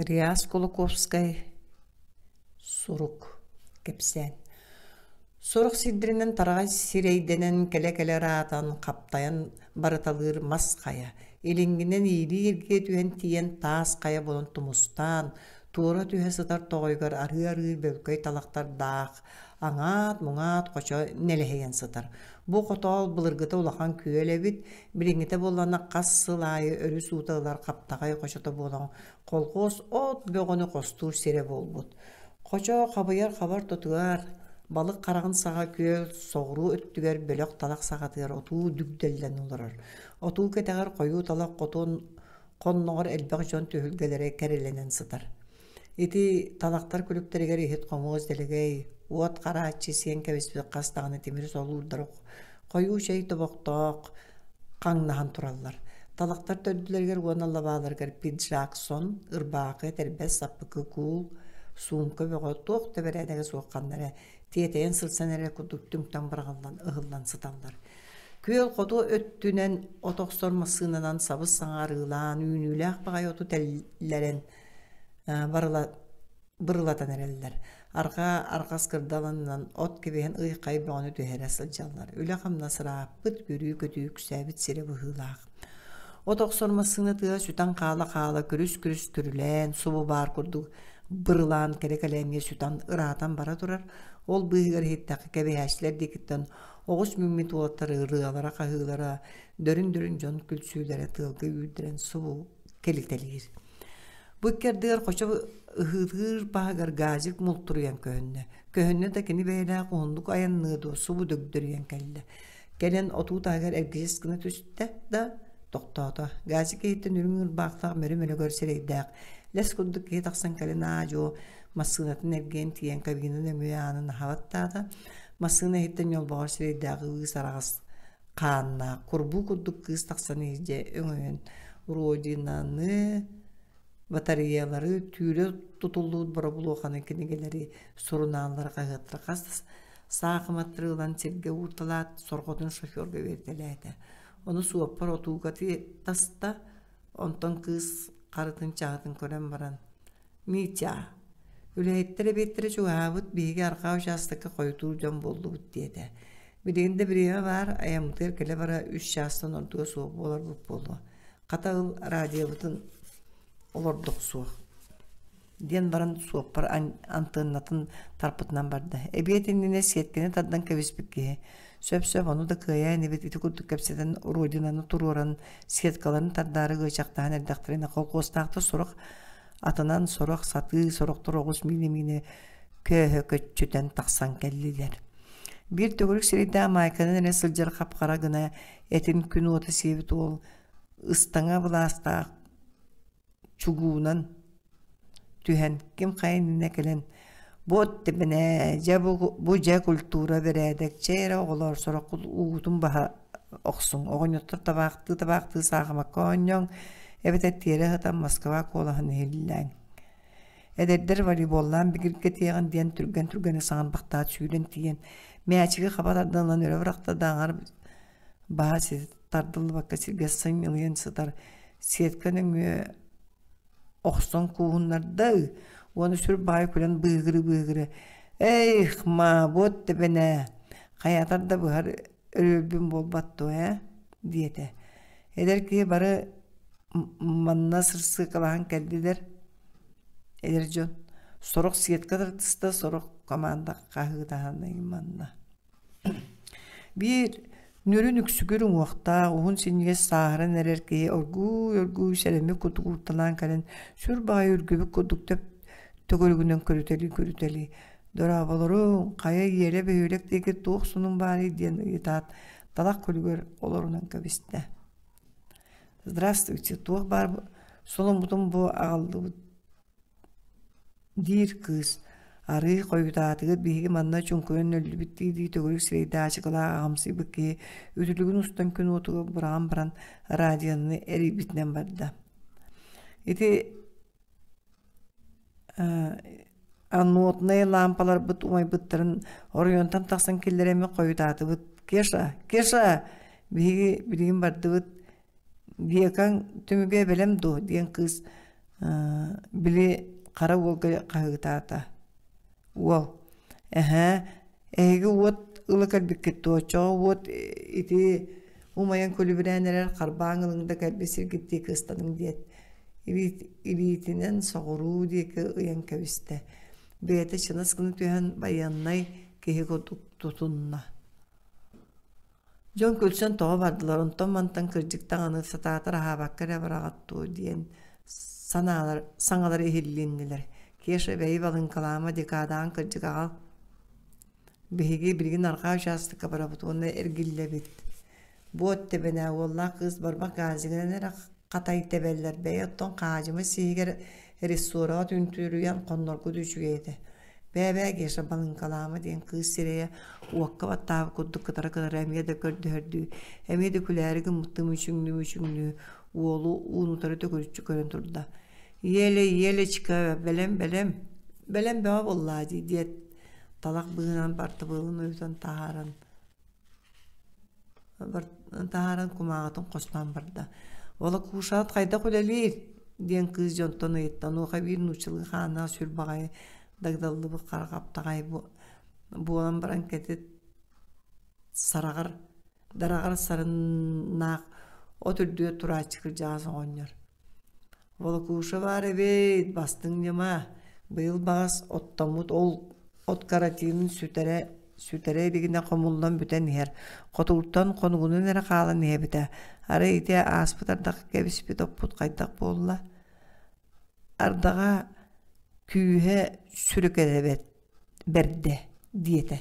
Реас Кулаковскай сурук кэпсээн Сорох сирдэринэн тараҕай сирэйдэнэн кэлэ-кэлэ ыраатан, хаптайан барыталыыр мас хайа, илиҥҥинэн иилии-иргиэ түһэн тиийэн таас хайа буолан тумустаан, туора түһэ сытар тоҕойугар арыы-арыы бөҥкөй талахтардаах аҥаат-муҥаат хочо нэлэһийэн сытар. Бу хотоол былыргыта улахан күөл эбит. Билиҥҥитэ буоллана хас сыл аайы өрүс уута ылар хаптаҕай хочото буолан колхоз от бөҕөнү хостуур сирэ буолбут. Хочо хабыйар хабар тутуар, балык хараҕын саҕа күөл соҕуруу өттүгэр бөлөх талах саҕатыгар отуу дүгдэллэн олорор. Отуу кэтэҕэр хойуу талах хотун хонноҕор элбэх дьон түһүлгэлэрэ кэрэлэнэн сытар. Ити талахтар күлүктэригэр иһит-хомуос, дэлэгэй, уот харааччы сиэн кэбиспит хас даҕаны тимир солуурдары хойуу чэй тобохтоох хаҥнаһан тураллар. Талахтар төрдүлэригэр уонна лабааларыгар пиджак сон, ырбаакы, тэрбэс, саппыкы куул, суумка бөҕө туох да бэрээдэгэ суох ханнара тиэтэйэн сырсан эрэ курдук түҥтэн быраҕыллан ыһыллан сыталлар. Күөл хоту өттүнэн от охсор массыынанан сабыс саҥарыылаан үүнүүлээх баҕайы оту тэллэрэн бырылатан эрэллэр. Арҕаа арҕас кырдалынынан от кибиһин ыйхай бөҕөнү түһэрэ сылдьаллар. Үлэ-хамнас ырааппыт, бүрүү-көтүү күсээбит сирэ быһыылаах. От охсор массыына тыа сүтэн хаала-хаала күрүс-күрүс түрүлээн, субу баар курдук бырылаан кэрэ-кэлээҥҥэ сүтэн ыраатан бара турар. Ол быыһыгар иһиттэххэ кэбиһээччилэр диэкиттэн оҕус миммит уоттар ырыалара-хаһыылара, дөрүн-дөрүн дьон күлсүүлэрэ тыалга үүрдэрэн субу кэлитэлиир. Бу иккэрдигэр хочо ыһыылыыр паһыгар газик мултуруйан көһүннэ. Көһүннэ да кини бэйэлээх уһуннук айанныа дуо субу дөгдөрүйэн кэллэ. Кэлэн отуу таһыгар эргичис гына түстэ да тохтоото. Газик киһиттэн үрүҥ ырбаахтаах мөрү-мөлөгөр сирэйдээх. Лэс курдук киһи тахсан кэлин аадьо массыынатын эргийэн тиийэн кабинаны өмүө аанын аһабаттаата. Массыына иһиттэн ньолбоҕор сирэйдээҕи ыы сараҕас хаанна курбуу курдук кыыс тахсан иһдэ өҥөйөн родинаны батареялары түүлэ тутуллубут боробулуоханы кинигэлэри сурунааллары хаһыаттара хас саахыматтары ылан сиргэ уурталаат сорҕотун шоферга үөрдэлээтэ ону суоппар отуугати таста онтон кыыс харытын чаҕытын көрөн баран Митя, үлэһиттэр эбиэттэрэ чугаһаабыт, биһиги арҕаа учаастакка хойутуур дьон буоллубут диэтэ. Билигин да бириэмэ баар, айаммытыгар кэлэ-бара үс чаастан ордуга суох буоларбыт буолуо. Хата ыл радиобытын олордох суох диэн баран суоппар антеннатын тарпытынан барда. Эбиэт иннинэ сиэткэни тардан кэбиспит киһи Сөп-сөп ону да кыайаа инибит ити курдук кэпсэтэн Родинаны туруоран сеткаларын тардаары ыачахтаһан эрдэхтэринэ холкуостаахтар сорох атынан сорох сатыы сорохтор оҕус миинэ-миинэ көөһө көччүтэн тахсан кэллилэр. Биир төгүрүк сирийдээ Майканын эрэ сылдьар хапхара гына этин күн уота сиэбит уол ыстаҥа былаастаах чугуунан түһэн ким хайынна кэлэн бу тэбэнэ дьэ бу дьэ культура бэрээдэк чэй эрэ оҕолоор сороххут уутун баһа охсуҥ оҕонньоттор табаахтыы табаахтыы саахымакка оонньооҥ эбэтэр тиэрэ сытан москва куолаһын иһиллээҥ эдэрдэр волейболлаан бигиргэтиэҕин диэн түргэн түргэнэ саҥан бахтаат сүүрэн тиийэн мээчиги хаба тардыллан өрө бырахта да аҥар баас тардыллыбакка сиргэ сынньылыйан сытар сетка нөҥүө охсон кууһуннарда уонна сүр баайа күлэн быыгыры-быыгыры эйх маабыт тэбэнэ хайаатар да быһар өрүөлбүн буолбат дуо ээ диэтэ эдэр киһи бары манна сырсыыкалаһан кэллилэр эдэр дьон сорох сетка тартыста сорох команда хаһыытаһан айманна Биир ньүрүн үксүгүр уҥуохтаах, уһун синньигэс сааһыран эрэр киһи оргууй-оргууй сэрэмик-кутук ууттанаан кэлэн сүр баҕайы үргүбүт курдук төп төгүрүгүнэн көрүтэлии-көрүтэлии «Дорооболоруҥ, хайа Иэрэ бөһүөлэк диэки туох сонун баарый?» диэн ыйытаат, талах күлүгэр олорунан кэбистэ. «Здравствуйте, туох баар соломмутун бу аҕаллыбыт диир кыыс, арыый хойутаатыгыт биһиги манна чуҥкуйан нөллүбүттүү дии төгүрүк сирэйдаачыкалаах аҕамсыйбыт киһи үтүлүгүн устан күн уотугар бураҕан баран радиону эрийбитинэн барда ити аннотнай лаампаларбыт умайбыттарын оройуонтан тахсан киллэрэммит хойутаатыбыт кеша кеша биһиги билигин бардыбыт Векаҥ түмүгэ эбэлэм дуо диэн кыыс били хара уолга хаһыытаата. Уол: Эһээ, эһиги уот ыла кэлбиккит дуо, оччоҕо уот ити умайан көлүбүрээн эрэр харбааҥ ылыҥ да кэлбисиргит диэки ыстаныҥ диэт, илиитинэн соҕуруу диэки ыйан кэбистэ. Бэйэтэ чыҥас гына түһэн байыаннай киһи курдук тутунна. Дьон күлсэн тоҕо бардылар, онтон-мантан кырдьыктан аны сатаатар аһаабакка эрэ быраҕаттуу диэн санаалар, саҥалара иһиллиннилэр. Кеша бэйи балыҥкалаама декадаан кырдьык аҕа биһиги билигин арҕаа учаастакка барабыт уонна эргиллэбит. Бу от тэбэнэ уоллаах кыыс барбах газигынан эрэ хатай тэбэллэр бэйи оттон хаадьымай сиһигэр рессораҕа түнтүөрүйэн хонноргут үчүгэй этэ бэбээ Геша Балыҥкалаама диэн кыыс сирэйэ уокка баттаабыт курдук кытара кытара эмиэ да көрдөһөрдүү, эмиэ да күлээри гыммыттыы мүчүҥнүү мүчүҥнүү уолу уунутары төгүрүччү көрөн турда. Еле, Елечка, бэлэм, бэлэм, бэлэм бөҕө буоллаа дии диэт, талах быыһынан бартыбылын уйутан таһааран таһааран кумааҕытын хостоон барда волокушат хайдах үлэлиир диэн кыыс дьонтон ыйыттан биир нууччалыы хааннаах сүр баҕайы дагдаллыбыт хара хаптаҕай буолан баран кэтит сараҕар дараҕар сарыннаах от үрдүгэр турааччы кырдьаҕас оҕонньор Волокушева эбээт, бастыҥ ньыма, быйыл баҕас оттоммут ол от каратинын сүтэрэ сүтэрэ илигинэ хомуллан бүтэн иһэр. Хотугуттан хонугунан эрэ хаалан иһэбитэ. Арай ити ааспыт ардах кэбиспит оппут хайдах буолла? Ардаҕа күүһэ сүрүкэлэбэт бэрдэ диэтэ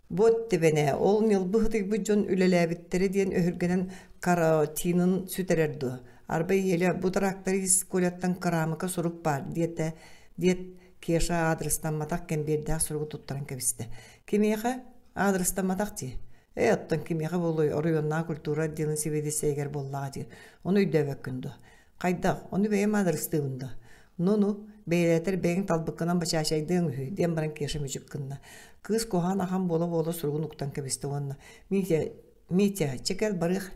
Бот тэбэнэ ол ньылбы хытыйбыт дьон үлэлээбиттэрэ диэн өһүргэнэн караотинын сүтэрэр дуо арбай ийэлэ бу тыраактары ис Коляттан кыраамыка сурук баар диэтэ диэт Кеша аадырыстамматах кэмбиэрдээх суругу туттаран кэбистэ кимиэхэ аадырыстамматах дии ээ оттон кимиэхэ буолуой оройуоннааҕы культура отделын сэбиэдиссэйигэр буоллаҕа дии ону өйдөөбөккүн дуо Хайдах, ону бэйэм аадырыстыыбын да. Ну-ну, бэйэлээтэр бэйэҥ талбыккынан бачаачайдыаҥ үһү, диэн баран Кеша мүчүк гынна. Кыыс куһаҕан ахан буола-буола суругун уктан кэбистэ уонна «Митя, Митя, чэ кэл барыах»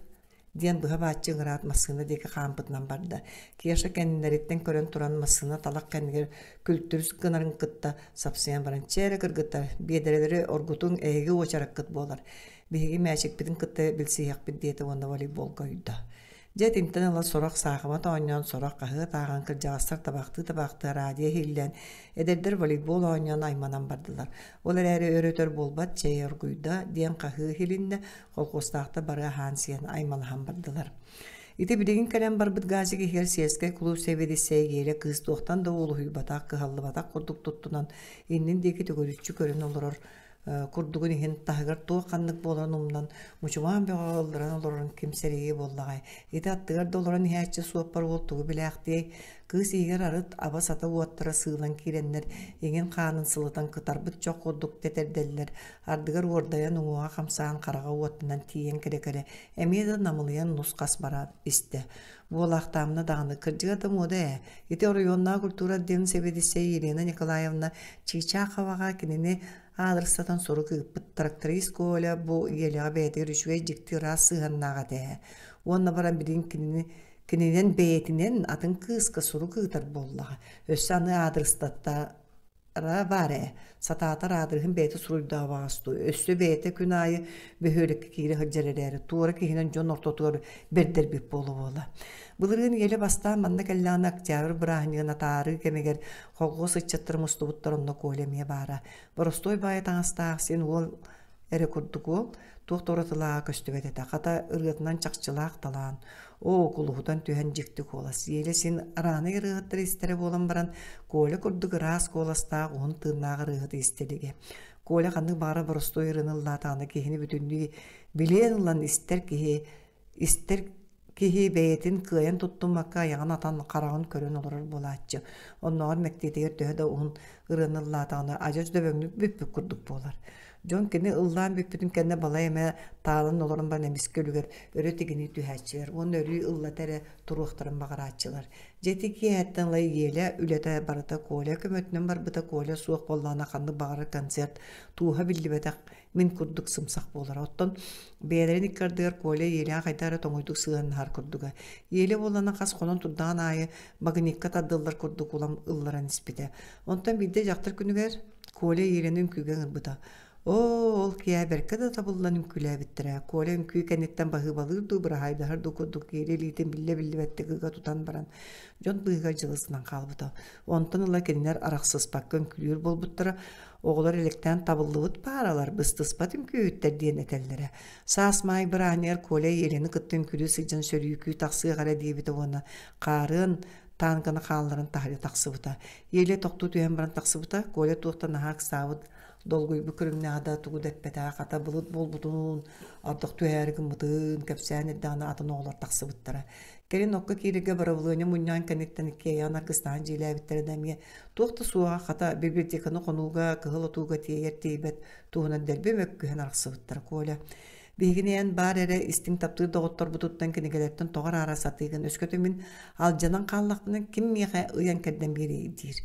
диэн быһа бааччы ыҥыраат массыына диэки хаампытынан барда. Кеша кэннилэриттэн көрөн туран массыына талах кэннигэр күлтүрс гынарын кытта сапсыйан баран чэ эрэ кыргыта, биэдэрэлэри оргутуҥ эһиги уочараккыт буолар. Биһиги мээчикпитин кытта билсиһиэхпит диэтэ уонна волейболга ойдо. Дьэ итинтэн ыла сорох саахымат оонньоон, сорох хаһыат ааҕан, кырдьаҕастар табахтыы-табахтыы араадьыйа иһиллэн, эдэрдэр волейбол оонньоон айманан бардылар. Ол эрээри өр-өтөр буолбат «Чэй оргуйда» диэн хаһыы иһилиннэ, колхуостаахтар бары аһаан-сиэн аймалаһан бардылар. Ити билигин кэлэн барбыт газик иһигэр сельскай клуб сэбиэдиссэйэ Гиэля кыыс туохтан да уолуһуйбатах, кыһаллыбатах курдук туттунан, иннин диэки төгүрүччү көрөн олорор курдугун иһин таһыгар туох ханнык буоларын умнан мучумаан бөҕө ылларан олорорун ким сэрии буоллаҕай ити аттыгар да олорон иһээччи суоппар уол тугу билээхтиэй кыыс иһигэр арыт аба сата уоттара сыылан киирэннэр иҥин хаанын сылытан кытарбыт чох курдук тэтэрдэллэр ардыгар уордайан уҥуоҕа хамсаан хараҕа уоттанан тиийэн кэрэ кэрэ эмиэ да намылыйан нус-хас бараат истэ Буолаахтаамна даҕаны кырдьыга да муода ээ. Ити оройуоннааҕы культура отделын сэбиэдиссэйэ Елена Николаевна Чыычааховаҕа кинини аадырыстатан сорук ыыппыт тракторист Коля бу ийэлэҕэ бэйэтигэр үчүгэй дьикти ыраас сыһыаннаах этэ ээ. Уонна баран билин кинини кининэн бэйэтинэн атын кыыска сурук ыытар буоллаҕа. Өссө аны аадырыстатта Араа баар ээ, сатаата раадырыһын бэйэтэ суруйдаабаҕас дуу, өссө бэйэтэ күн аайы бөһүөлэккэ киирэ сылдьар эрээри, туора киһинэн дьон ортотугар бэрдэрбит буола буола. Былырыын ийэлэ бастаан манна кэллэҕинэ октябрь бырааһынньыгын атаарыы кэмигэр холхуос ыччаттар мустубуттар онно Коля эмиэ баара. Боростуой баайа таҥастаах син уол эрэ курдук уол туох да уратылааҕа көстүбэт этэ хата ырыатынан чахчылаах талаан оо кулуһутан түһэн дьикти куолас Еля син араанай ырыаһыттар истэрэ буолан баран Коля курдук ыраас куоластаах уһун тыыннаах ырыаһыты истэ илигэ Коля ханнык баара боростуой ырыаны ыллаатаҕына киһини бүтүннүү билиэн ылан истэр киһи Истэр киһи бэйэтин кыайан туттуммакка айаҕын атан хараҕын көрөн олорор буолааччы. Оннооҕор мэктиэтигэр төһө да уһун ырыаны ыллаатаҕына адьас дөбөҥнүк бүппүт курдук буолар. Дьон кини ыллаан бүппүтүн кэннэ балай эмэ таалан олорон баран эмискэ үлүгэр өрө тигинии түһээччилэр уонна өрүү ыллата эрэ туруохтарын баҕарааччылар. Дьэ ити киэһэттэн ыла Егелэ үлэтэ барыта Коля көмөтүнэн барбыта Коля суох буоллаҕына ханнык баҕарар концерт тууһа биллибэтэх мин курдук сымсах буолара оттон бэйэлэрин иккардыгар Коля иэлээх айда эрэ тоҥойдук сыһыаннаһар курдуга иэлэ буоллана хас хонон турдаҕын аайы багыникка тардыллар курдук улам ылларан испитэ онтон биирдэ дьахтар күнүгэр Коля иэлэни үҥкүүгэ ыҥырбыта оо ол киэһэ бэркэ да табыллан үҥкүүлээбиттэрэ Коля үҥкүү кэнниттэн баһыыбалыыр дуу быраһаайдаһар дуу курдук иэлэ илиитин биллэ-биллибэттик ыга тутан баран дьон быыһыгар дьылысынан хаалбыта онтон ыла кинилэр арахсыспакка үҥкүүлүүр буолбуттара Оҕолор элэктээн табыллыбыт пааралар, быстыспат үҥкүүһүттэр диэн этэллэрэ. Саас Маай бырааһыныгар Коля Еляны кытта үҥкүрүү сылдьан сөрүүкүү тахсыах эрэ диэбитэ уонна хаарыан тааҥканы хаалларан таһырьа тахсыбыта. Еля тохтуу түһэн баран тахсыбыта, Коля туохта наһаа ыксаабыт, долгуйбут көрүҥнээҕэ да тугу да эппэтэх, хата былыт буолбутун, ардах түһээри гыммытын, кэпсээн эрдэҕинэ атын оҕолор тахсыбыттара. Кэлин окко киирэргэ бырабылыанньа мунньаан кэнниттэн иккиэйэҕин аргыстаан дьиэлээбиттэрэ да эмиэ туох да суоҕа хата библиотеканы хонууга кыһыл отууга тиэйэр тиийбэт туһунан дэлби мөккүһэн арахсыбыттара Коля Биһигини эн баар эрэ истиҥ таптыыр доҕотторбутуттан кинигэлэртэн тоҕор аара сатыыгын өскөтүн мин алдьанан хааллахпына ким миэхэ ыйан кэрдэн биэриэй диир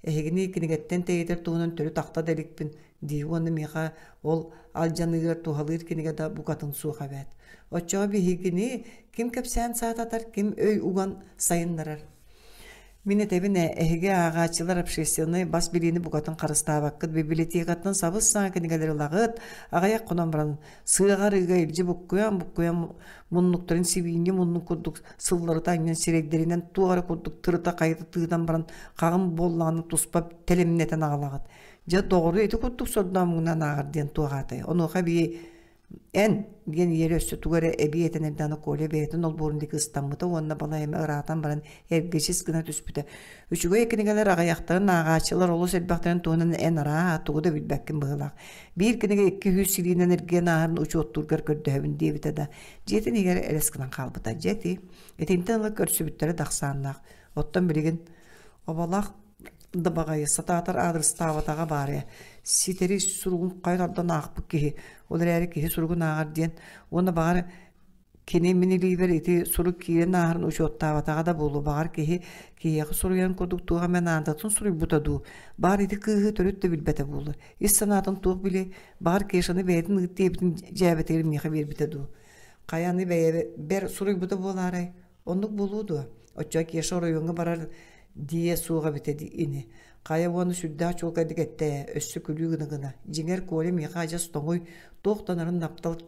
Эһигини кинигэттэн тэйитэр туһунан төрүт ахта да иликпин дии уонна миэхэ ол алдьаныыгар туһалыыр кинигэ да букатын суох эбээт. Оччоҕо биһигини ким кэпсээн саататар, ким өй уган сайыннарар. Мин этэбин эһиги ааҕааччылар общественнай бас билиини букатын харыстаабаккыт библиотекаттан сабыс-саҥа кинигэлэри ылаҕыт аҕыйах хонон баран сыаҕар ыга илдьи буккуйан буккуйан муннуктарын сибиинньэ муннук курдук сылларыта анньан сирэйдэринэн туох эрэ курдук тырыта хайыта тыынан баран хаҕым буоллаҕына туспа тэлимнэтэн аҕалаҕыт дьэ доҕору ити курдук сордоомугунан ааҕар диэн туоҕаатай онуоха эбии эн диэн ийэлэр өссө тугу эрэ эбии этэн эрдэҕинэ Коля бэйэтин олбуорун диэки ыстаммыта уонна балайыма ыраатан баран эргичис гына түспүтэ үчүгэй кинигэлэр аҕыйахтарын ааҕааччылар олус элбэхтэрин туһунан эн арааһа тугу да билбэккин быһыылаах биир кинигэ икки-үһүс силиинэн эргиэн ааһарын учуоттуургар көрдөһөбүн диэбитэ да Дьиэтин игэрэ элэс гынан хаалбыта. Дьэти, итинтэн ыла көрсүбүттэрэ тахсааннаах. Оттон билигин обалаах дабаҕайы сатаатар аадырыстаабатаҕа баарыйа ситэри суругун хайа тардан аахпыт киһи ол эрээри киһи суругун ааҕар диэн уонна баҕар кини минилиибэр ити сурук киирэн ааһарын учуоттаабатаҕа да буолуо баҕар киһи киһиэхэ суруйан курдук туох эмэ наадатын суруйбута дуу баар ити кыыһы төрүт да билбэтэ буолуо ис санаатын туох били Баҕар Кешаны бэйэтин ыыт диэбитин дьээбэтигэр миэхэ биэрбитэ дуу. Хайаны бэйэ бэр суруйбута буолаарай? Оннук буолуо дуо? Оччо Кеша оройуонга барар дии суох эбитэ дии ини. Хайа уонна сүрдээх чуолкайдык эттэ, өссө күлүү гына гына. Дьиҥэр Коля миэхэ адьас тоҥуй, туох да онорун наптал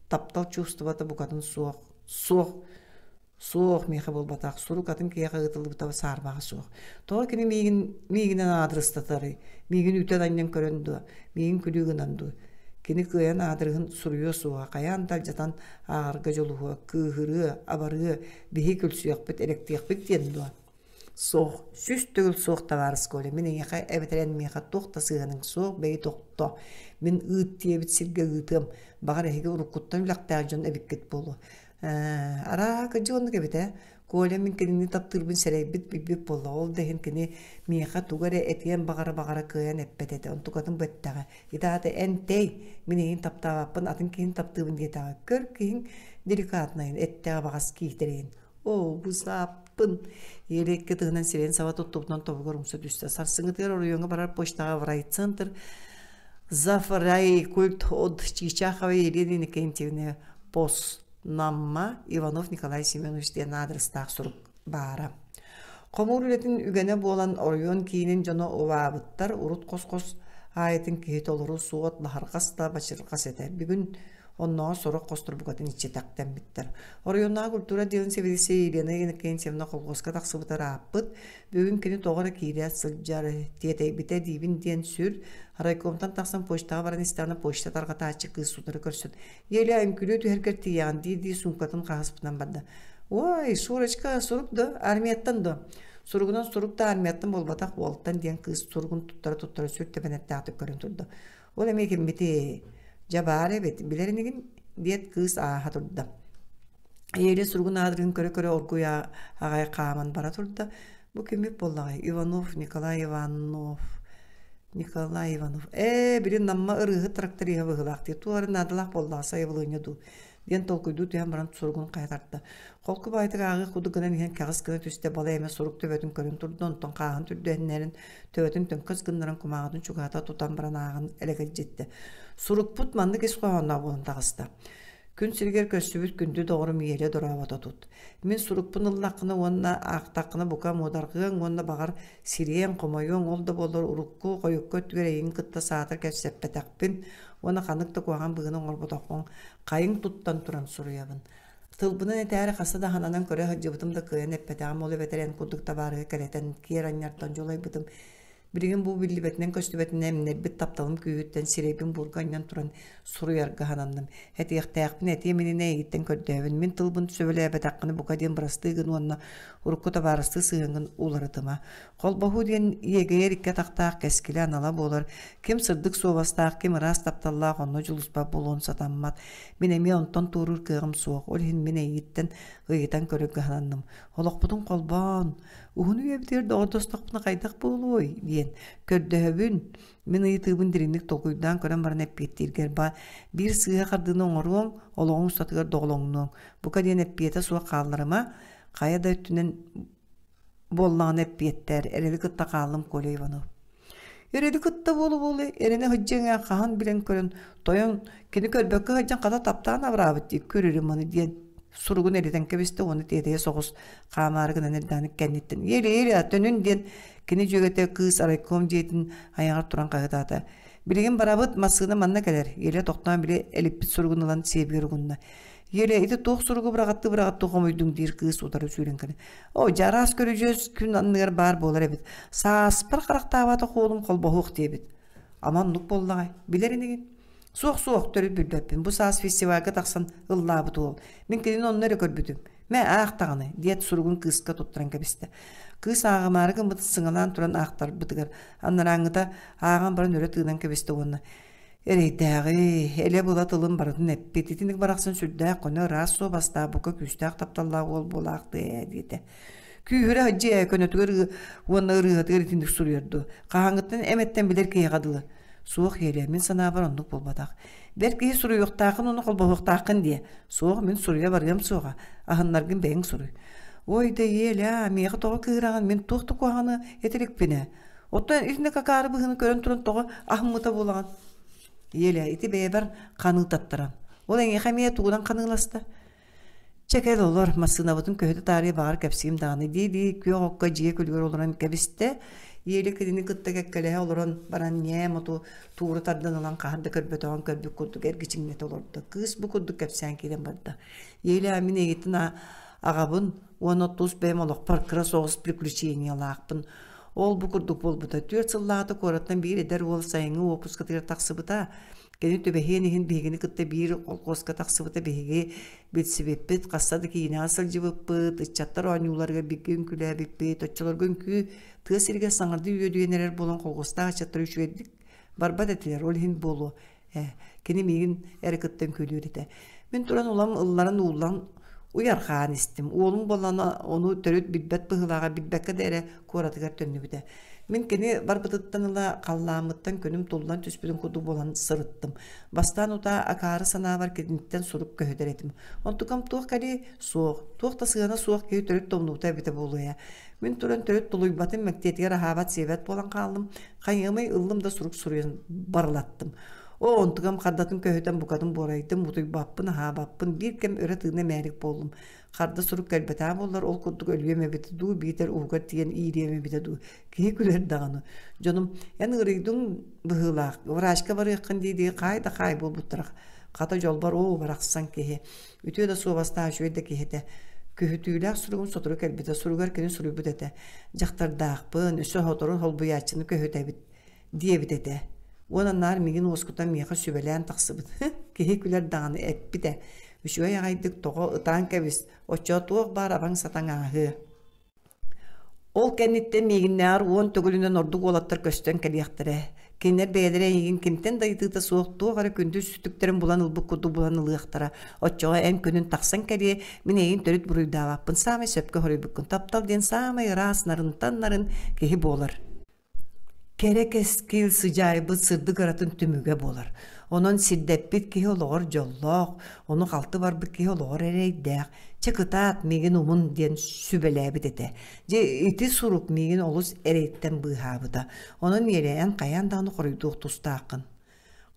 таптал чувствата букатын суох. Суох Суох, миэхэ буолбатах. Сурук атын киһиэхэ ыытыллыбыта саарбаҕа суох. Тоҕо кини миигин, миигинэн аадырыстатарый? Миигин үүтэн анньан көрөн дуо? Миигин күлүү гынан дуу? Кини кыайан аадырыһын суруйуо суоҕа, хайаан да алдьатан ааҕарга дьулуһуо, кыыһырыа, абарыа, биһи күлсүөхпүт, элэктиэхпит диэн дуо? Суох, сүүс төгүл суох табаарыс Коля, мин эйиэхэ эбэтэр эн миэхэ туох да сыһыаныҥ суох, бэйи тохтоо. Мин ыыт диэбит сиргэ ыытыам, баҕар эһиги уруккуттан үлэхтээх дьон эбиккит буолуо. Ээ, арааһа кырдьык оннук эбит ээ. Коля мин кинини таптыырбын сэрэйбит, билбит буоллаҕа. Ол да иһин кини миэхэ тугу эрэ этиэн баҕара-баҕара кыайан эппэт этэ. Онтукатын бу эттэҕэ. Ити аата эн тэй, мин эйиин таптаабаппын, атын киһини таптыыбын диэтэҕэ. Көр киһиҥ деликатнайын, эттэҕэ баҕас киһитэ эрэйин. Оо, бусаппын. Елекке тыһынан сирен саба туттубутун тобугар умса түстэ. Сарсынгытыгар оройоңго барар почтаҕа в райцентр Зафрай культ от Чичахова Елена Иннокентьевна Пос Намма Иванов Николай Семенович диэн адрестаах сурук баара. Хомуур үлэтин үгэнэ буолан оройуон киинин дьоно убаабыттар урут хос-хос аайытын киһи толору суот баһарҕас да бачырҕас этэ. Бүгүн Оннооҕор сорох хостор букатын иччи тахтаммыттар. Оройуоннааҕы культура отделын сэбиэдиссэйэ Елена Иннокентьевна колхозка тахсыбытар ааппыт. Бүгүн кини тоҕо эрэ киирэ сылдьар, тиэтэйбитэ диибин диэн сүр. Райкомтан тахсан почтаҕа баран истэҕинэ почта тарҕатааччы кыыс утары көрсөн Еля үҥкүлүө түһэргэр тиийэҕин дии-дии суумкатын хаһаспытынан барда. Ой, Шурочка, сурук да, армияттан да. Суругунан сурук да армияттан буолбатах уолтан диэн кыыс суругун туттара-туттара сүр тэбэнэттээхтик көрөн турда. Ол эмиэ киммитий? Дьабаар эбит. Билэр инигин? диэт кыыс ааһа турда. Эйэлэ суругун аадырын көрө-көрө оргуй аҕай хааман бара турда. Бу киммит буоллаҕай? Иванов Николай Иванов. Николай Иванов. Ээ, били Намма ырыыһыт тракториһа быһылаах дии. Туолары наадалаах буоллаҕа сайабылыанньа дуу. диэн толкуйдуу түһэн баран суругун хайа тарта. Холку баайытык ааҕыах кудук гынан иһэн кэҕис гына түстэ бала эме сурук төбөтүн көрөн турда, онтон хааһын түрдүһэннэрин төбөтүн төҥкөс гыннаран кумааҕытын чугаата тутан баран ааҕан элэгирдьитте. Сурукпут маннык ис хоһоонноох буолан таҕыста. Күн сиригэр көрсүбүт күндү доҕорум иэлэ дорообото тут. Мин сурукпун ыллаххына уонна аахтаххына бука муодарҕыаҥ уонна баҕар Сириэн, хомойуоҥ, ол да буоллар урукку хойукка өттүгэр эйигин кытта саата кэпсэппэтэхпин уонна ханнык да куһаҕан быһыыны оҥорботоххун хайыҥ туттан туран суруйабын. Тылбынан этээри хаста да хананан көрө сылдьыбытым да кыайан эппэтэҕим ол эбэтэр эн курдук табаарыһы кэрэтэн киэр анньартан дьулайбытым. Билигин бу биллибэтинэн-көстүбэтинэн эмнэрбит тапталым күүһүттэн сирэйбин буурга анньан туран суруйарга сананным. Этиэхтээхпин этиэм иннинэ эйигиттэн көрдөөбүн. Мин тылбын сөбүлээбэтэххинэ бука диэн бырастыы гын уонна урукку табаарыстыы сыһыаҥҥын уларытыма. Холбоһуу диэн иэгэйэр икки атахтаах кэскилэ анала буолар, ким сырдык суобастаах, ким ыраас тапталлаах онно дьулуспат буолуон сатаммат. Мин эмиэ онтон туоруур кыаҕым суох, ол иһин мин эйииттэн ыйытан көрө кыһананным. Олохпутун холбоон, уһун үйэбитигэр доҕордостохпуна хайдах буолуой диэн көрдөһөбүн. Мин ыйытыыбын дириҥник толкуйдаан көрөн баран эппиэттииргэр баа биир сыыһа хардыыны оҥоруоҥ, олоҕуҥ устатыгар доҕолоҥнуоҥ. Бука диэн эппиэтэ суох хаалларыма, Хайа да өттүнэн буоллаҕына эппиэттээр эрэли кытта хааллым Коля Иванов. Эрэли кытта буолу-буолу эрэнэ сыдьаҥа хаһан билэн көрөн тойон кини көрбөккө сыдьаң хата таптаан абыраабыт дии көрүрүм аны диэн суругун эритэн кэбистэ уонна тиэтэйэ соҕус хаамаары гынан эрдэҕин кэнниттэн ели ели төнүн диэн кини дьүөгэтэ кыыс райком дьиэтин айаҕар туран хаһытаата билигин барабыт массыына манна кэлэр еле тоқтоон биле элиппит суругун ылан сиэбигэр угунна Ере, ити туох суругу быраҕаттыы-быраҕаттыы хомуйдуҥ диир кыыс утары сүүрэн кэлэн. Оо, дьэ араас көрүдьүөс күн анныгар баар буолар эбит. Сааспар харахтаабат хоолум холбоһуох диэбит. Ама оннук буоллаҕай. Билэр инигин. Суох-суох төрүт билбэппин. Бу саас фестивальга тахсан ыллаабыт уол. Мин кинини онно эрэ көрбүтүм. Мэ аахтаҕаны, диэт суругун кыыска туттаран кэбистэ. Кыыс ааҕымаары гыммыт сыҥалаан туран аахтарбытыгар аннарааҥҥыта ааҕан баран өрө тыынан кэбистэ уонна Эрэйдээҕи, элэ-была тылын барытын эппит. Итинник барахсан сүрдээх көнө ыраас суо бастаах, бука күүстээх тапталлаах уол буолаахтыы ээ диэтэ. Күүһүрэ хадьыа көнөтүгэр уонна ырыатыгар итинник суруйарду. Хаһааҥҥыттан эмэттэн билэр киһиэхэ дылы. Суох иэлэ, мин санаабар оннук буолбатах. Бэр киһи суруйуохтаахын уну холбоһуохтааххын дие. Суох мин суруйа барыам суоҕа. Аһыннаргын бэйэҥ суруй. Ой да иэлэ, миэхэ тоҕо кыыраҕын мин туох да куһаҕаны этирикпинэ. Оттон итинэ какаары быһыны көрөн туран тоҕо аһыммыта буолаҕын. Еле ити бэйэбэр ханыы таттаран. Ол эҥиэхэ эмиэ тугунан ханыыласта. Чэкэл олор массыынабытын көһүтэ таарыйа баҕар кэпсиим даҕаны дии-дии күөх окко дьиэ күлүгэр олорон кэбистэ. Иэли кинини кытта кэккэлэһэ олорон баран ньээм оту туура тарданынан хаһан да көрбөтөҕүн көрбүт курдук эргичиҥнэтэ олордо. Кыыс бу курдук кэпсээн киирэн барда. Иэли мин эйигиттэн аҕабын уон отуус бэйэм олохпор кыра соҕус приключениялаахпын. Ол-бу курдук буолбута. Түөрт сыллаата куораттан биир эдэр уол сайыҥҥы уоппускатыгар тахсыбыта. Кини түбэһиэн иһин биһигини кытта биир холкуоска тахсыбыта биһиги билсибиппит, хаста да киинэҕэ сылдьыбыппыт, ыччаттар оонньууларыгар бииргэ үҥкүүлээбиппит, оччолорго үҥкүү тыа сиригэр саҥардыы үөдүйэн эрэр буолан холкуостаах ыччаттар үчүгэйдик барбат этилэр, ол иһин буолуо. Кини миигин эрэ кыттан күлүүр этэ. Мин туран улам ылларан ууллан уйархаан истим. Уолум болана ону төрүт билбэт быһылааҕа билбэккэ да эрэ куоратыгар төннүбүтэ. Мин кини барбытыттан ыла халлааммыттан күнүм туллан түспүтүн курдук буолан сырыттым. Бастаан утаа акаары санаабар киниттэн сурук көһүтэр этим. Онтукам туох кэлий? Суох. Туох да сыана суох киһи төрүт тумнуута эбитэ буолуйа. Мин туран төрүт тулуйбатым, мэктиэтигэр аһаабат сиэбэт буолан хааллым. Хайыамай ыллым да сурук суруйан барылаттым. Оо, онтукам хардатын көһүтэн букатын буорайтым, утуйбаппын, аһаабаппын, биир кэм өрө тыына мээрик буоллум. Харда сурук кэлбэтаа буоллар, ол курдук өлүөм эбитэ дуу, биитэр ууга тиийэн иириэм эбитэ дуу. Киһи күлэр даҕаны. Дьонум, эн ыарыйдыҥ быһыылаах, врачка барыаххын дии-дии хаай да хаай буолбуттара. Хата дьолбор оо барахсан киһи Үтүө да суобастаах үчүгэй да киһи этэ. Күһүтүүлээх суругун сотору кэлбитэ, суругар кини суруйбут этэ. Дьахтардаахпын, үс сотору холбуйааччыны көһүтэбит диэбит этэ. Уон анаар мигин уоскута миэхэ сүбэлээн тахсыбыт. Киһи күлэр даҕаны эппитэ. Үчүгэй аҕайдык тоҕо ытаан кэбис, оччо туох баар абаҥ сатаҥааһы. Ол кэнниттэн миигиннээҕэр уон төгүлүнэн ордук уолаттар көстөн кэлиэхтэрэ. Кинилэр бэйэлэрэ эйигин киниттэн да ыйытыыта суох туох эрэ күндү үстүктэрин булан ылбыт курдук булан ылыахтара. Оччоҕо эн күнүн тахсан кэлиэ, мин эйигин төрүт буруйдаабаппын, саамай сөпкө хоруйбуккун, таптал диэн саамай ыраас нарынтан нарын киһи буолар. Кэрэ кэскил сыдьаайбыт сырдык ыратын түмүгэ буолар. Онон сирдэппит киһи олоҕор дьоллоох, ону халты барбыт киһи олоҕор эрэйдээх. Чэ кытаат, миигин умун диэн сүбэлээбит этэ. Дьэ ити сурук миигин олус эрэйтэн быыһаабыта. Онон иэрэйэн хайаан даҕаны хоруйдуох тустааххын.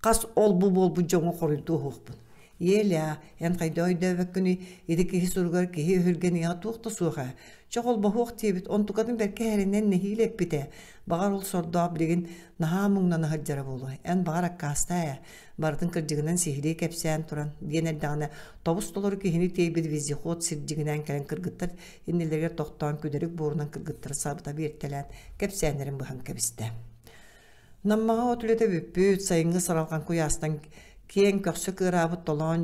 Хас ол-бу буолбут дьоҥҥо хоруйдуу оһуохпун. Еля, эн хайда өйдөөбөккүнүй, ити киһи суругар киһи өһүргэн ийэҕэ туох да суоха. Чох олбоһуох диэбит, онтукатын бэркэ эринэн нэһиилэ эппитэ. Баҕар ол сордоох билигин наһаа муҥнана сылдьара буолуо. Эн баҕар аккаастаа ээ, барытын кырдьыгынан сиһилии кэпсээн туран, диэн эрдэҕинэ тобус толору киһини тиэйбит вездеход сирдьигинээн кэлэн кыргыттар иннилэригэр тохтоон күдэрик буорунан кыргыттара сабыта биэртэлээн кэпсээннэрин быһан кэбистэ. Наммаҕа от үлэтэ бүппүт, сайыҥҥы саралҕан куйаастан киэҥ көхсө кыараабыт толоон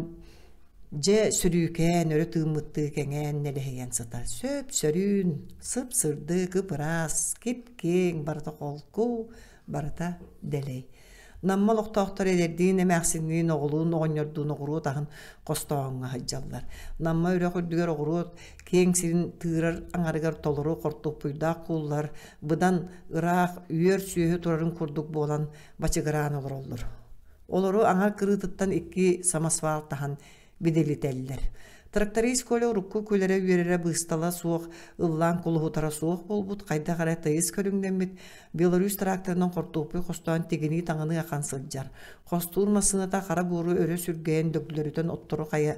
дьэ сүрүүкээн, өрө тыыммыттыы кэҥээн нэлэһийэн сытар. Сөп-сөрүүн, сып-сырдык, ып-ыраас, кип-киэҥ, барыта холку, барыта дэлэй. Намма олохтоохторо эдэрдиин эмээхсинниин, оҕолуун оҕонньордуун оҕуруот аһын хостооһуҥҥа сылдьаллар. Намма үрэх үрдүгэр оҕуруот киэҥ сирин тыырар аҥарыгар толору хортуппуйдаах кууллар быдан ыраах үөр сүөһү турарын курдук буолан бачыгыраан олороллор олору аҥар кырыытыттан икки самосвал таһан бидэлитэллэр тракторист коля урукку күлэрэ-үөрэрэ быыстала суох ыллаан кулуһутара суох буолбут хайдах эрэ тыйыс көрүҥнэммит беларусь тракторынан хортуоппуй хостоон тигинии-таҥыныы ахан сылдьар хостуур массыыната хара буору өрө сүргэйэн дөглөрүтэн оттору хайа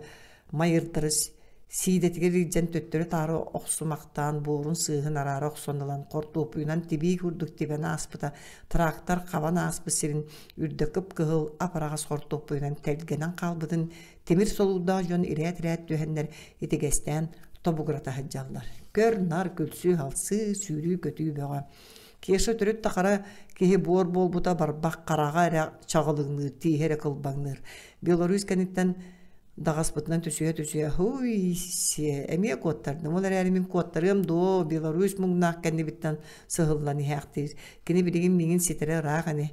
Майыртарыс сиидэтигэр илдьэн төттөрү-таары охсумахтаан буорун сыыһын араара охсон ылан хортуоппуйунан тибии курдук тибэн ааспыта тыраактар хабан ааспыт сирин үрдэ кып-кыһыл апараҕас хортуоппуйунан тэлгэнэн хаалбытын тимир солуурдаах дьон ирээт-ирээт түһэннэр итигэстээн тобугура таһыддьаллар көр-нар күлсүү-халсыы сүүрүү-көтүү бөҕө Кеша төрүт тахара киһи буор буолбута барбах хараҕа эрэ чаҕылыҥныыр, тииһэ эрэ кылбаҥныыр. Беларусь кэнниттэн даҕаспытынан түсүһэ-түсүһэ «Һуй, сиэ, эмиэ куоттардым, ол эрээри мин куоттарыам дуо, Беларусь муҥнаах кэннибиттэн сыһыллан иһээхтиир. Кини билигин миигин ситэрэ ыраах ини.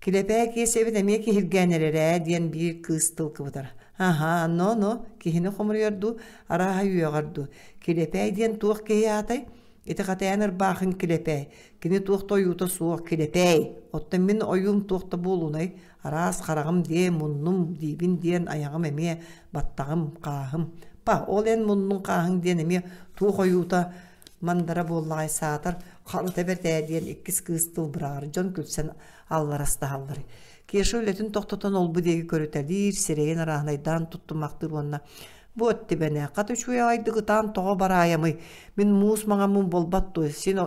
Килэпээ Киэсэбит эмиэ киһиргээн эрэрэ» диэн биир кыыс тыл кыбытар. «Аһаа, но-но, киһини хомуруйар дуу, арааһа үөҕэр дуу? Килэпээ диэн туох киһи аатай?» Итихатаан ырбаахын килэпэй, кини туох да ойуута суох килэпэй. Оттон мин ойуум туох да буолунай, араас хараҕым дии, муннум диибин диэн айаҕым эмиэ баттаҕым, хааһым. Па, ол эн муннуҥ хааһыҥ диэн эмиэ туох ойуута мандара буоллаҕай саатар харыта бэртээ диэн иккис кыыс тыл быраҕар дьон күлсэн алларастаһаллар. Кеша үлэтин тохтотон ол-бу диэки көрүтэлиир, сирэйин араанайдаан туттумахтыыр уонна Бу өттүбэне хат үчүгэйдик ытаан тоҕо бараайамый, мин муус маҥаммын буолбат дуо, син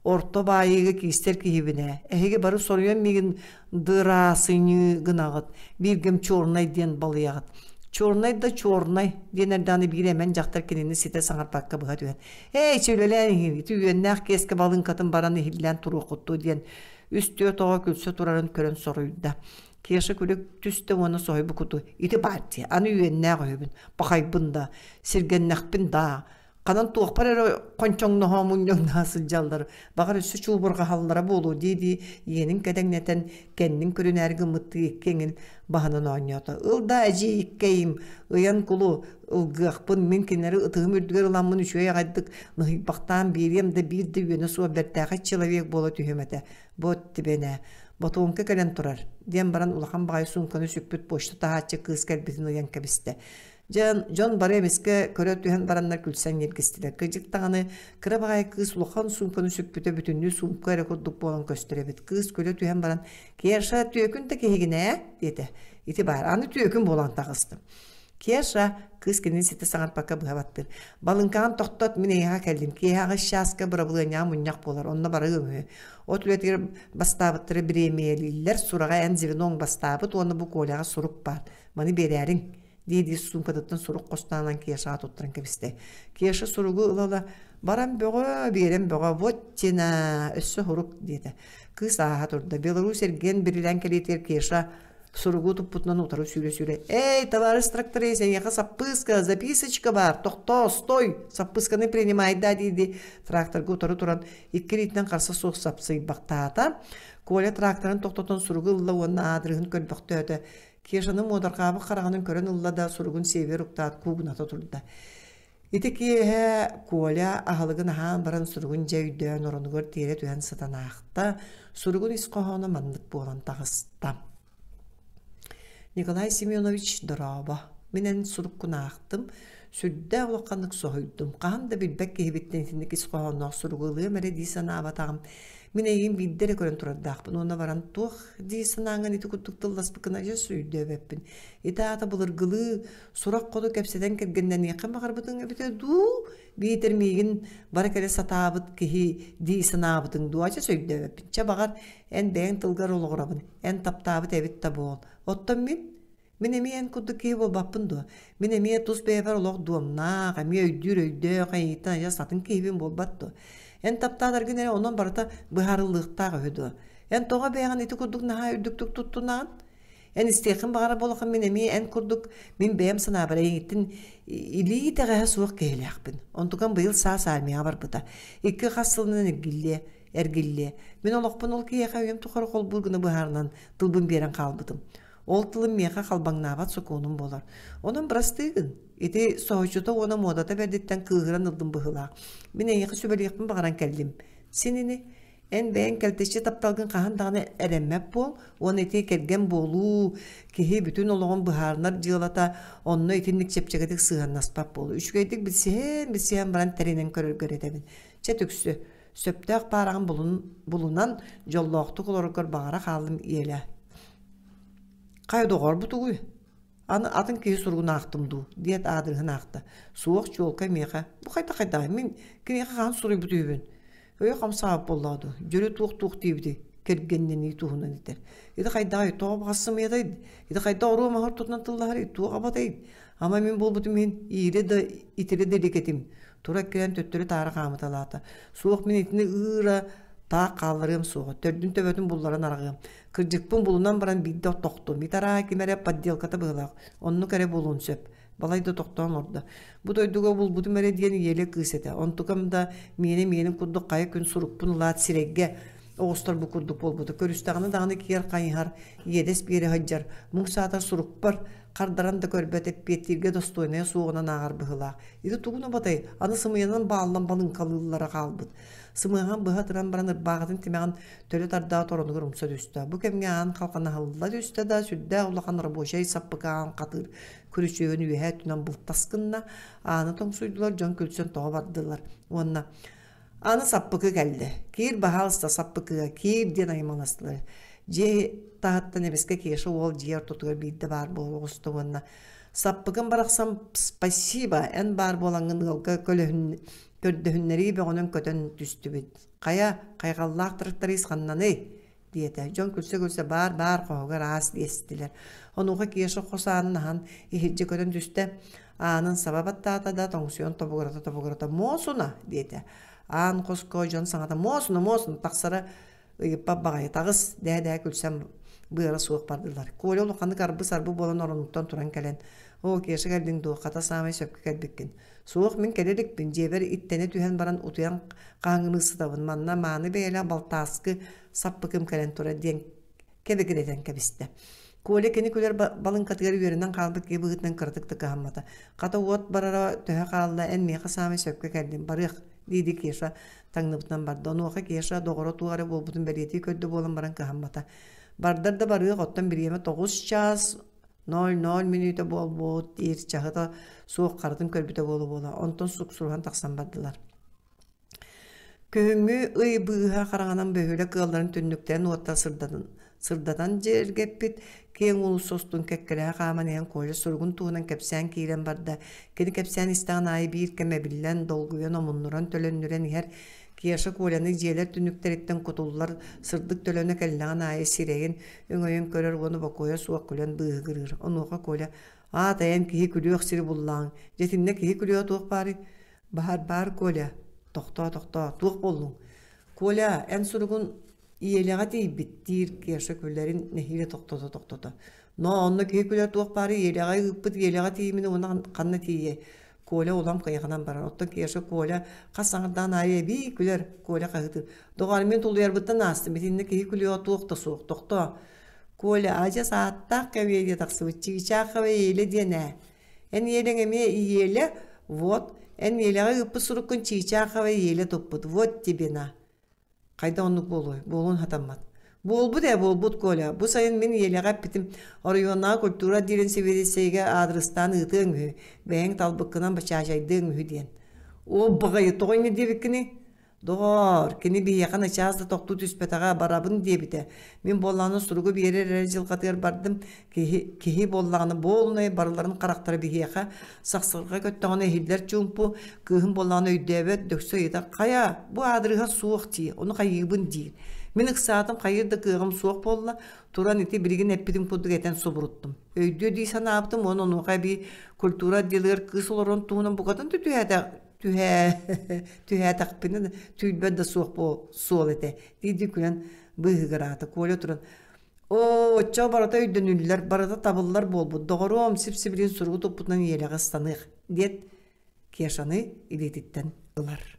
орто баайыыга киистэр киһибинэ, эһиги бары соруйан миигин дыраасыньыы гынаҕыт, бииргим чернай диэн балыйаҕыт. Чернай да чернай диэн эрдэҕинэ биир эмэн дьахтар кинини ситэ саҥарбакка быһа түһэн, ээ ичи үлэлээн иһиҥ, ити үөннээх киэскэ балыыҥкатын баран иһиллээн туруоххуттуу диэн үс-түөрт оҕо күлсэ турарын көрөн соруйда. Кеша күлүк түстэ уонна соһуй букуту ити партия аны үөннээх өһөбүн пахайбын да сиргэннэхпин да ханан туохпар эрэ хончоҥноһо мунньоҥноһо сылдьаллар баҕар өссө чуубурҕаһаллара буолуо дии-дии иэнин кэдэҥнэтэн кэннин күрүнээри гыммыттыы икки эҥин баһанан оонньоото ыл да эдьиий иккэйим ыйан кулу ылгыахпын мин кинилэри ытыым үрдүгэр ыламмын үчүгэй аҕайдык ныһыйбахтаан биэриэм да биир да үөнэ суох бэртээхэй человек буола түһүм этэ Бот тибэнэ, ботуоҥка кэлэн турар, диэн баран улахан баҕайы суумканы сүкпүт почта таһааччы кыыс кэлбитин ыйан кэбистэ. Дьэн, дьон бары эмискэ көрө түһэн бараннар күлсэн ньиргистилэр. Кыдьык даҕаны кыра баҕайы кыыс улахан суумканы сүкпүтэ бүтүннүү сумка эрэ курдук буолан көстөр эбит. Кыыс күлэ түһэн баран, Керша, түөкүн да киһигин ээ, диэтэ. Ити баар, аны түөкүн буолан таҕыстым. Кеша, кыыс кинини ситэ саҥарпакка быһа баттыыр. Балыҥкаҕын тохтот, мин эйэҕэ кэллим. Киэһэҕэ чааска бырабылыанньаҕа мунньах буолар, онно барыа үһү. От үлэтигэр бастаабыттары бириэмийэлииллэр, сураҕа эн звеноҥ бастаабыт уонна бу Коляҕа сурук баар, маны биэрээриҥ, дии-дии суумкатыттан сурук хостоонон Кешаҕа туттаран кэбистэ. Кеша суругу ылала, баран бөҕө, биэрэн бөҕө, вот тина, өссө сурук, диэтэ. Кыыс ааһа турда. Беларусь эргиэн бирилээн кэлиитигэр Кеша суругу туппутунан утары сүүрэ-сүүрэ «Эй, товарищ тракторист, эйиэхэ саппыыска, записочка бар, тохтоо, стой, саппыысканы принимай да» дии-дии тракторга утары туран икки илиитинэн харса суох сапсыйбахтаата. Коля тракторын тохтотон суругу ылла уонна аадырыһын көрбөхтөөтө. Кешаны муодарҕаабыт хараҕынын көрөн ылла да суругун сиэбиэр уктаат куугуната турда. Ити киэһэ Коля аһылыгын аһаан баран суругун дьэ өйдөөн оронугар тиэрэ түһэн сытан аахта. Суругун ис хоһооно маннык буолан таҕыста. Николай Семенович дорообо. Мин эн суруккун аахтым. Сүрдээх улаханнык соһуйдум. Хаһан да билбэт киһибиттэн итинник ис хоһоонноох суругу ылыам эрэ дии санаабатаҕым. Мин эйигин биирдэ эрэ көрөн турардаахпын уонна баран туох дии санааҥҥын ити курдук тылласпыккына дьэ өйдөөбөппүн. Ити аата былыргылыы Сурах хоту кэпсэтэн кэргэннэниэххэ баҕарбытыҥ эбитэ дуу, биитэр миигин бара кэлэ сатаабыт киһи дии санаабытыҥ дуу, ача сөйдөөбөппүн. Чэ баҕар, эн бэйэҥ тылгар олоҕурабын, эн таптаабыт эбит да буол. Оттон мин? Мин эмиэ эн курдук киһи буолбаппын дуо? Мин эмиэ тус бэйэбэр олох дуомнаах, эмиэ өйдүүр-өйдөөх, эйиитин айа сатын киһибин буолбат дуо? Эн таптаатаргын эрэ онон барыта быһаарыллыахтаах үһү дуо? Эн тоҕо бэйэҕин ити курдук наһаа үрдүктүк туттунаҕын? Эн истиэхин баҕара буоллахым мин эмиэ эн курдук мин бэйэм санаабар эйигиттин илии итэҕэһэ суох киһилээхпин. Онтукам быйыл саас армияҕа барбыта. Икки хас сылынан эргиллиэ, эргиллиэ. Мин олохпун ол киһиэхэ үйэм тухары холбуур гына быһаарынан тылбын биэрэн хаалбытым. Ол тылым миэхэ халбаҥнаабат сокуонум буолар. Онон бырастыы гын. Ити соһуччута уона муодата бэрдиттэн кыыһыран ылдым быһыылаах. Мин эйиэхэ сүбэлиэхпин баҕаран кэллим. Син ини Эн бэйэҥ кэлтэччи тапталгын хаһан даҕаны эрэммэт буол уонна ити кэргэн буолуу киһи бүтүн олоҕун быһаарынар дьыалата онно итинник чэпчэкитик сыһыаннаспат буолуо. Үчүгэйдик билсиһэн билсиһэн баран тэринэн көрөргөр этэбин. Чэ түксү. Сөптөөх баараҕын булунан дьоллоохтук олороргор баҕара хааллым иэлэ. Хай доҕорбут угуй? Аны атын киһи суругун аахтым дуу диэт аадырыһын аахта. Суох чуолкай миэхэ. Бу хайда хайдаҕай мин кимиэхэ хаан суруйбут үһүбүн. өйө хамсаабат буоллаҕа дуу дьөрү туох туох диэбитий кэргэннэнии туһунан этэр ити хайдаҕа ито абаҕассымыйатай ити хайдах оруо маһар тутунан тыллаһар туох абатай ама мин буолбутум иһин иирэ да итирэ да илик этим тура кэлэн төттөрү таара хаамыталаата суох мин итини ыыра таах хаалларыам суоҕа төрдүн төбөтүн булларан араҕыам кырдьыкпын булунан баран биирдэ тохтум ит араа ким эрэ подделката быһылаах оннук эрэ буолуон сөп Балай да тохтоон олордо. Бу дойдуга булбутум эрэ диэн ийэлэ кыыс этэ. Онтукам да миэнэ миэнин курдук хайа күн сурукпун ылаат сирэйгэ оҕустар бу курдук буолбута. Көрүстэҕинэ даҕаны киэр хайыһар, иэдэс биэрэ сылдьар, муҥ саата сурукпар хардаран да көрбөт эппиэттииргэ достойная суоҕунан ааҕар быһыылаах. Ити тугун убатай, аны сымыйанан бааллан балыҥкалыыллара хаалбыт. Сымыйаҕын быһа туран баран ырбаахытын тимэҕин төрүт ардаҕа торонугар умса түстэ. Бу кэмҥэ аан халханаһылла түстэ да, сүрдээх улахан рабочай саппыкаан хатыр күрүчүөгүн үөһэ өттүнэн бултаскынна, ааны тоҥсуйдулар, дьон күлсэн тоҕо бардылар. Уонна аны саппыкы кэллэ. Киир баһаалыста саппыкыга, киир диэн аймаластылар. Дьиэ таһыттан эмискэ Кеша уол дьиэ ортотугар биирдэ баар буола оҕуста уонна саппыкын барахсан спасибо эн баар буолаҥҥын ыалга көлөһүн көрдөһүннэрии бөҕөнөн көтөн түстүбүт Хайа, хайҕаллаах тракторист ханнаный? диэтэ. Дьон күлсэ-күлсэ баар-баар хоһугар аас биэстилэр. Онуоха Кеша хос аанын аһан иһирдьэ көрөн түстэ. Аанын саба баттаата да тоҥсуйан тобугурата-тобугурата «Муосуна!» диэтэ. Аан хоско дьон саҥата «Муосуна, муосуна!» тахсара ыйыппат баҕайы таҕыс дээ-дээ күлсэн быара суох бардылар. Коля улаханнык арбы-сарбы буолан оронуттан туран кэлэн «Оо, Кеша кэллиҥ дуо? Хата саамай сөпкө кэлбиккин. Суох, мин кэлэ иликпин, дьиэбэр иттэнэ түһэн баран утуйан хаангылыы сытабын. Манна мааны бэйэлээх балтааскы саппыкым кэлэн турар диэн кэбигиретэн кэбистэ. Коля кини күлэр балыҥкатыгар үөрэнэн хаалбыт киһи быһыытынан кыратык да кыһаммата. Хата уот барара төһө хаалла, эн миэхэ саамай сөпкө кэллим, барыах, диди Кеша таҥныбытынан барда. Онуоха Кеша доҕоро туох эрэ буолбутун бэлиэтии көрдө буолан баран кыһаммата. Бардар да барыах, оттон бириэмэ тоҕус чаас 0-0 мүнүүтэ буолбут диир чаһыта суох харатын көрбүтэ буола-буола онтон суксуруһан тахсан бардылар күһүҥҥү ый быыһа хараҥанан бөһүөлэк ыалларын түннүктээн уоtta сырдатан дьиэргэппит киэҥ уулусса устун кэккэлэһэ хааман иһэн Коля суругун туһунан кэпсээн киирэн барда кини кэпсээн истэҕин аайы биир кэм эбиллэн долгуйан омуннуран төлөннүрэн иһэр Кеша Коляны дьиэлэр түнүктэриттэн кутуллар сырдык төлөнө кэллэҕин аайы сирэйин өҥөйөн көрөр уону бокуойа суох күлэн быыһыгырыыр. Онуоха Коля «Аат эйэн киһи күлүөх сири буллаҕыҥ. Дьэтиннэ киһи күлүө туох баарый?» «Баар, баар, Коля. Тохтоо, тохтоо. Туох буоллуҥ?» «Коля, эн суругун ийэлэҕэ тиийбит», диир Керша күлэрин нэһиилэ тохтото-тохтото. «Ноо, онно киһи күлэр туох баарый ийэлэҕэ ыыппыт ийэлэҕэ тиийимин уонна ханна тиийиэй? Коля улам кыйаханан барар. Оттон Кеша Коля хас саҥардаан аайы эбии күлэр Коля хаһыытын. Доҕоор, мин тулуйарбыттан аастым. Итиннэ киһи күлүөҕэ туох да суох. Тохтоо. Коля, адьас ааттаах кэвиэ диэ тахсыбыт. Чыычааххабы иелэ диэн ээ. Эн иелэҥ эмиэ иелэ, вот, эн иелэҕэ ыыппыт суруккун чыычааххабы иелэ туппут. Вот тебе на. Хайда оннук буолуой? Буолуон хатаммат. Буолбут ээ, буолбут, Коля. Бу сайын мин ийэлэҕэ эппитим, оройуоннааҕы культура диирин цивилиссийэгэ аадырыстаан ыытыаҥ үһү, бэйэҥ талбыккынан бачаачайдыаҥ үһү диэн. Оо, баҕайы тоҕо инньэ диэбиккиний? Доҕоор, кини биһиэхэ начаас да тохтуу түспэтэҕэ, барабын диэбитэ. Мин буоллаҕына суругу биэрэр эрэ дьылҕатыгар бардым, киһи, киһи буоллаҕына буолунай барыларын харахтара биһиэхэ сахсырга көттөҕүнэ иһиллэр чуумпу кыыһым буоллаҕына өйдөөбөт дөксө ыйыта хайа бу аадырыһа суох дии ону хайыыбын диир мин ыксаатым хайыр да кыаҕым суох буолла туран ити билигин эппитим курдук этэн субуруттум өйдүө дии санаабытым уонна онуоха эбии культура отделыгар кыыс олорон туһунан букатын да түһээтэх түһээ түһээтэхпинэ түүлбэт да суох буол суол этэ дии дии күлэн быыһыгыраата Коля туран Оо, оччо барыта өйдөнүллэр, барыта табыллар буолбут. Доҕоруом, сип-сибилин суругу туппутунан иэрэҕэ ыстаныах, диэт Кешаны илиититтэн ылар.